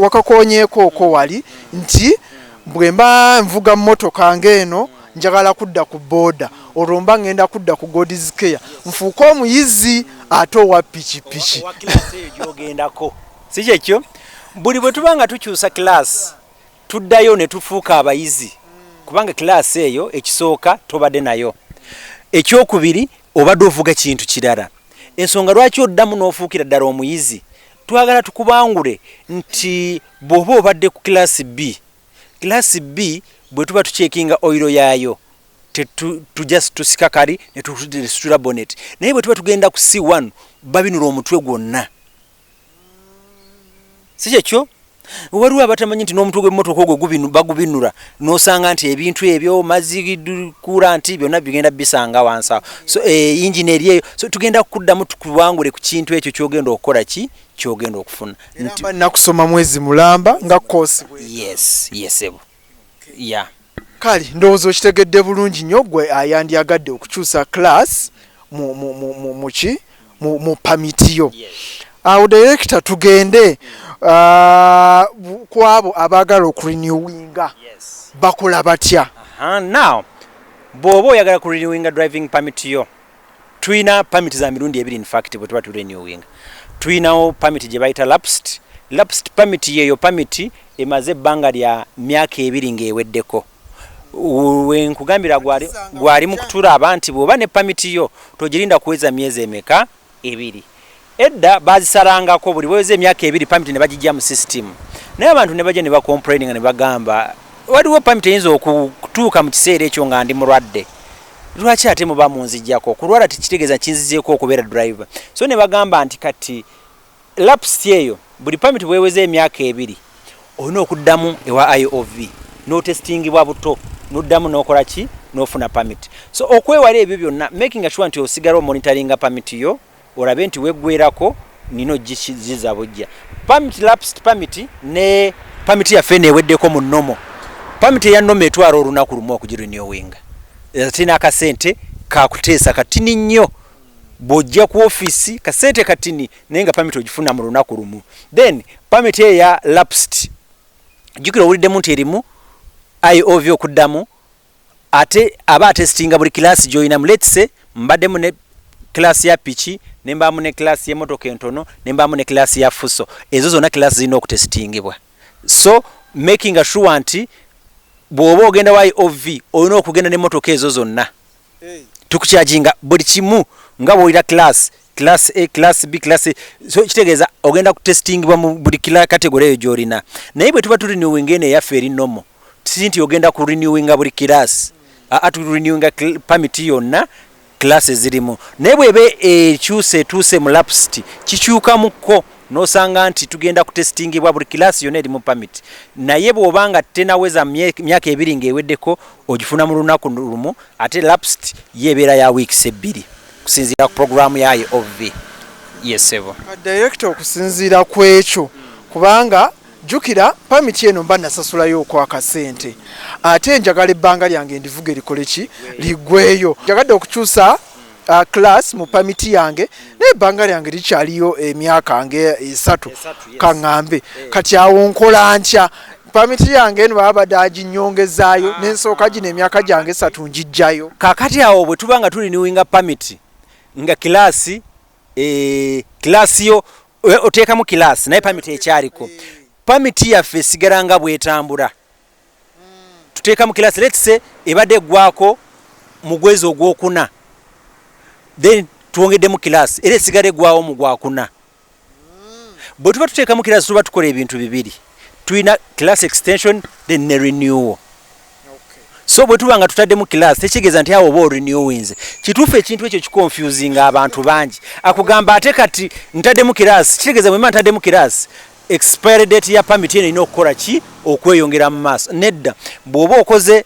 wakakonyeekooko wali nti bwemba nvuga mmotoka ng'eno njagala kudda ku booda olwo mba ngenda kudda ku God's Care nfuuke omuyizi ate owa pikipiki. Si kyekyo? Buli bwe tuba nga tukyusa kiraasi tuddayo ne tufuuka abayizi kubanga kiraasi eyo ekisooka tobadde nayo. Ekyokubiri obadde ovuga kintu kirala. Ensonga lwaki oddamu n'ofuukira ddala omuyizi Twagala tukubangule nti bwoba obadde ku class B, class B bwetuba tucheckinga oil yaayo tetu tu just tusika kali netusitula bonnet naye bwetuba tugenda ku C1 babinula omutwe gwonna. Sikyekyo? waliwo abatamanyi nti n'omutwe gw'emmotoka ogwo bagubinura n'osanga nti ebintu ebyo mazzi kula nti byonna bigenda bisanga wansawo so eh, yingini eri eyo so tugenda kuddamu tukuwangule ku kintu ekyo kyogenda okukola ki kyogenda okufuna nakusoma mwezi mulamba nga kosi yes yesebo yes, ya kale ndowooza okitegedde bulungi nnyo gwe ayandyagadde okukyusa class muki mu pamiti yo awo direkita tugende ah, ku abo abaagala okurinewinga bakola batya now bw'oba oyagala kurinewinga driving pamiti yo Tulina permit za mirundi ebiri in fact bwe tuba tu renewing. Tulinawo permit gye bayita lapsed. Lapsed permit yeeyo permit emaze ebbanga lya myaka ebiri ng'eweddeko. Wenkugambira gwali mu kutulaba nti bw'oba ne permit yo togirinda kuweza myezi emeka ebiri. Edda bazisalangako buli weweza emyaka ebiri permit nebagijja mu system naye abantu nebajja neba complaininga nebagamba waliwo permit eyinza okutuuka mu kiseera ekyo nga ndi mulwadde lwaki ate muba munzijjako kulwala tekitegeza kinzizeeko okubeera driver so nebagamba nti kati lapsi eyo buli permit bweweza emyaka ebiri olina okuddamu ewa iov notestingibwa buto noddamu nokola ki nofuna permit so okwewala ebyo byonna making sure nti osigala omonitoringa permit yo olabe nti weggwerako nina ogiza bujja permit lapsed permit ne permit yaffe eno eweddeko mu nomo permit eya nomo etwala olunaku lumu okugirenewinga ate n'akasente kakuteesa katini nnyo bwojja ku office kasente katini naye nga permit ogifuna mu lunaku lumu then permit eyo ya lapsed jukira owuliddemu nti erimu iov okuddamu ate aba atestinga buli class joyinamu let's say mbaddemu ne class ya piki nembaamu ne class yemotoka entono nembaamu ne class ya fuso ezo zonna class zirina okutestingibwa so making sure nti bw'oba ogenda y ov olina okugenda nemotoka ezo zonna tukukyajinga buli kimu nga bwolira class class a class b class so kitegeeza ogenda ku testingibwa mu buli kila kategore eyo gyolina naye bwe tuba turinewinga eno eyaffe eri nomo si nti ogenda ku renewinga buli class aa tu renewinga permit yonna class ezirimu naye bweba ekyusa etuuse mu lapsiti kikyukamukko nosanga nti tugenda ku testingibwa buli class yonna eri mu permit naye bwobanga tenaweza myaka ebiri ngaeweddeko ogifuna mu lunaku lumu ate lapsed ye ebeera ya weeks ebbiri okusinziira ku programu yayo ov yesebo directo okusinziira ku ekyo kubanga jukira pamiti eno mba nasasulayo okwakasente ate njagala ebbanga lyange ndivuga erikole ki ligweyo njagadde okukyusa uh, class mu pamiti yange naye ebbanga lyange likyaliyo emyaka nge esatu kaŋŋambe eh. kati awo nkola ntya pamiti yange eno baba badde aginyongezaayo ah, nensooka gino ah. emyaka gyange esatu ngijjayo kakati awo bwe tuba nga tuliniwinga pamiti nga kilaasi eh, kilaasi yo eh, oteekamu kilaasi naye pamiti ekyaliko eh. pamiti yaffe esigala nga bwetambula hmm. tuteekamu kilaasi letse ebadde eggwako mu gwezi ogwokuna then twongeddemu kilaasi era esigala eggwawo mu gwakuna bwe tuba tuteekamu kirasi tuba tukola ebintu bibiri tulina class extension then ne renewal so bwe tuba nga tutaddemu class tekitegeeza nti awo oba orenewinze kituufu ekintu ekyo kiconfusinga abantu bangi akugamba ate kati ntaddemu kirasi kitegeeza bwema ntaddemu kirasi expiry date ya pamit eno erina okukola ki okweyongera mu maaso nedda bw'oba okoze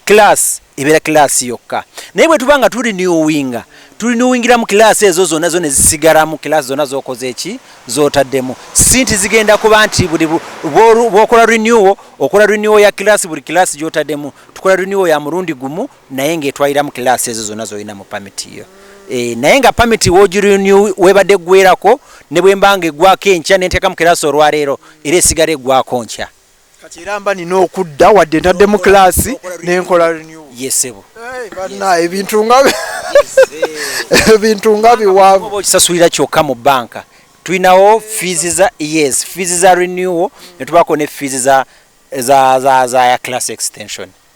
Class ebera class yokka naye bwetuba nga tuli newinga tuli newingiramu class ezo zona zona ezisigaramu class zona zokoze eki zotaddemu sinti zigenda kuba nti buli bwokola renewal okola renewal ya class buli class gyotademu tukola renewal ya murundi gumu naye nga etwaliramu class ezo zona zolina mu permit yo e, naye nga permit wogirenew webadde gwerako ne bwembanga egwako enkya nentekamu class olwaleero era esigala egwako nkya kati era mba nina okudda wadde ntaddemu class nenkola renew yesebo hey, bana ebintu nga ebintu nga biwavu oba okisasulira kyokka mu banka tulinawo fees za yes fees za renewal netubako ne fees za za za za ya class extension